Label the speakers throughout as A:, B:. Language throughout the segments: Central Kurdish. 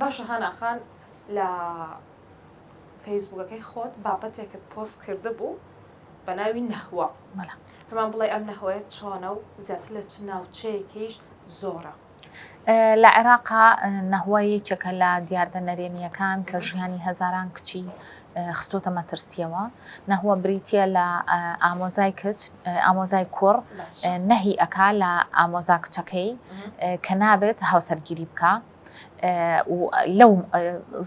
A: باشە هانا خان لە فەیسبوکەکەی خۆت بابەتێکت پۆست کردبوو بە ناوی نەهوە پێمان بڵێ ئەم نەهوەیە چۆنە و زیاتر لە چ ناوچەیەکیش زۆرە لە
B: عێراقا نەهوە یەکێکە لە دیاردە نەرێنیەکان کە ژیانی هەزاران کچی خستۆتە مەترسیەوە نەهوە بریتە لە ئامۆزای کچ ئامۆزای کوڕ نەهی ئەکا لە ئامۆزا کچەکەی کە نابێت هاوسەرگیری بکە لەو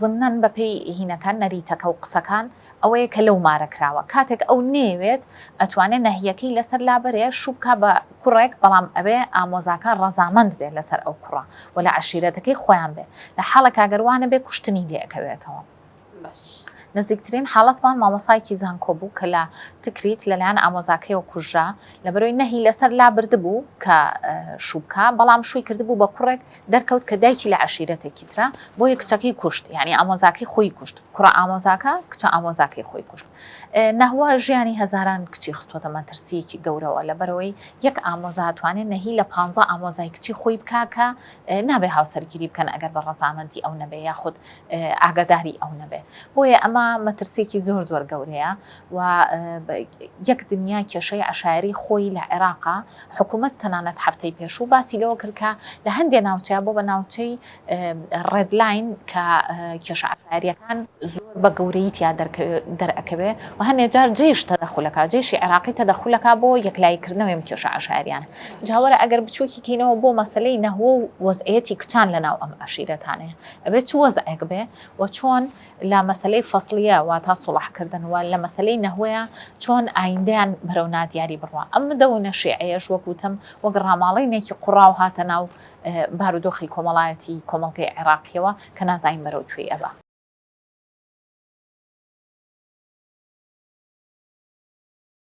B: زمنان بەپی هینەکان نەریتەکە و قسەکان ئەوەیە کە لەو مارە کراوە کاتێک ئەو نێوێت ئەتوانێت نەهیەکەی لەسەر لابەرێ شوبکە بە کوڕێک بەڵام ئەبێ ئامۆزاکە ڕەزامەند بێت لەسەر ئەو کوڕە و لە عشیرەتەکەی خۆیان بێت لە حاڵە کاگەروانە بێ کوشتنی لێکەوێتەوە نزیکترین حاڵەتمان مامۆستایەکی زانکۆ بوو کە لە تکریت لەلایەن ئامۆزاکەیەوە کوژرا لەبەرەوەی نەهی لەسەر لا بردبوو کە شووبکە بەڵام شووی کردبوو بە کوڕێک دەرکەوت کە دایکی لە عشیرەتێکی ترە بۆیە کچەکەی کوشت یعنی ئامۆزاکەی خۆی کوشت کوڕە ئامۆزاکە کچە ئامۆزاکەی خۆی کوشت نەهوە ژیانی هەزاران کچی خستۆتە مەترسیەکی گەورەوە لەبەرەوەی یەک ئامۆزا توانێت نەهی لە پ ئامۆزای کچی خۆی بکە کە نابێ هاوسەرگیری بکەن ئەگەر بە ڕەزامەندی ئەو نەبێ یاخود ئاگاداری ئەو نەبێ بۆیە ئەمە مەترسیەکی زۆر زۆر گەورەیە و یەک دنیا کێشەی عشاعری خۆی لە عێراقا حکوومەت تەنانەت هەفتەی پێشوو باسی لەوە کردکە لە هەندێ ناوچە بۆ بە ناوچەی ڕێدلاین کە کێشعشاریەکان زۆر بە گەورەی تیا دەرەکەوێ و هەنێجار جێش تەدەخولەکە جێشی عێراقی تەدەخولەکە بۆ یەکلایکردنەوەیم کێشە عشاریان جاوەرە ئەگەر بچووکی کەینەوە بۆ مەسلەی نەهوە و وەزعەتی کچان لە ناو ئەم عشیرەتانێ ئەبێ چ وەزعێک بێ و چۆن لە مەسەلەی فەسڵیە واتا سوڵح کردن و لە مەسەلەی نەهوەیە چۆن ئایندەیان بەرەو نادیاری بڕوا ئەم مدەونە شیعەیەش وەک وتم وەک ڕاماڵینێکی قوڕاو هاتە ناو بارودۆخی کۆمەڵایەتی کۆمەڵگەی عێراقیەوە کە نازانین بەرەو کوێی ئەبا.